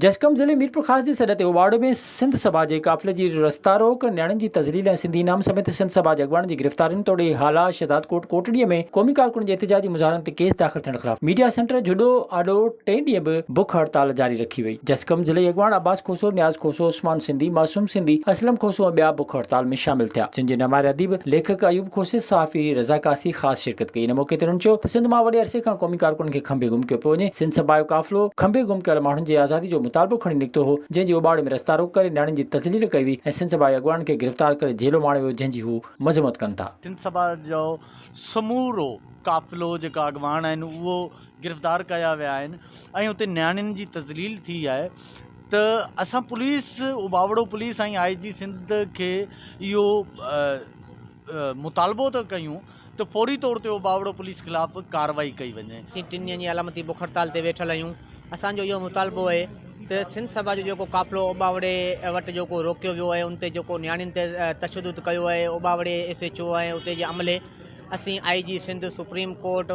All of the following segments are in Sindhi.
جسقم ضلعي ميرپورخاص جي سڏ تي اوٻاڙو ۾ سنڌ سڀا جي قافلي جي رستا روڪ، نياڻين جي تذليل ۽ سنڌي انعام سميت سنڌ سڀا جي اڳواڻن جي گرفتارين توڙي هالا، شهدادڪوٽ، ڪوٽڙيء ۾ قومي ڪارڪن جي احتجاجي مظاهرن تي ڪيس داخل ٿيڻ خلاف ميڊيا سينٽر جهڏو آڏو ٽئين ڏينهن به بک هڙتال جاري رکي وئي. جسقم ضلعي اڳواڻ عباس کوسو، نياز کوسو، عثمان سنڌي، معصوم سنڌي، اسلم کوسو ۽ ٻيا بک هڙتال ۾ شامل ٿيا، جن جي نمائر اديب، ليکڪ ايوب کوسي، صحافي رضا قاصي، خاص شرڪت ڪئي، ان موقعي تي هنن چيو ته سنڌ مان وڏي عرصي کان قومي ڪارڪنن کي کنڀي گم ڪيو پيو وڃي، سنڌ سڀا جو قافلو کنڀي گم ڪيل ماڻهن جي آزادي جو مطالبو کڻي نڪتو هو، جنهن جي اوٻاڙي ۾ رستا روڪ ڪري نياڻين جي تذليل ڪئي وئي ۽ سنڌ سڀا جي اڳواڻن کي گرفتار ڪري جهيلو ماڻيو ويو جنهن جي هو مذمت ڪن ٿا. سنڌ سڀا جو سمورو قافلو جيڪا اڳواڻ آهن اهو گرفتار ڪيا ويا آهن ۽ اتي نياڻين جي تذليل ٿي آهي ته اسان police Ubauro police ۽ I G Sindh کي اهو مطالبو ٿا ڪيون ته فوري طور تي اهو ٻاوڙو پوليس خلاف ڪارروائي ڪئي وڃي. اسين ٽن ڏينهن جي علامتي بک هڙتال تي ويٺل آهيون، اسان جو اهو مطالبو اهي ته سنڌ سڀا جو جيڪو قافلو اوٻاوڙي وٽ جيڪو روڪيو ويو اهي ان تي جيڪو نياڻين تي تشدد ڪيو اهي اوٻاوڙي ايس ايڇ او ۽ اتي جي عملي اسين I G Sindh supreme court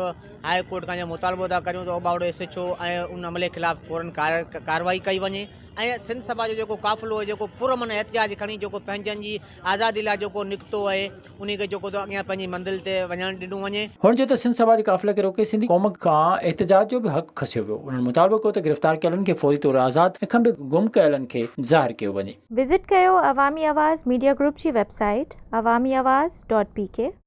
high court کان اهو مطالبو ٿا ڪريون ته اوٻاوڙو ايس ايڇ او ۽ ان عملي خلاف فورن ڪارروائي ڪئي وڃي ۽ سنڌ سڀا جو جيڪو قافلو اهي جيڪو پر امن احتجاج کڻي جيڪو پنهنجن جي آزادي لاء جيڪو نڪتو اهي. انهيء کي چوکو ٿو اڳيان پنهنجي منزل تي وڃڻ ڏنو وڃي. هن چيو ته سنڌ سڀا جي قافلي کي روڪي سنڌي قوم کان احتجاج جو به حق کسيو ويو، انهن مطالبو ڪيو ته گرفتار ڪيلن کي فوري طور آزاد ۽ کنڀي گم ڪيلن کي ظاهر ڪيو وڃي. وزٽ ڪيو عوامي آواز ميڊيا گروپ جي website Awami Awaz dot P ڪي.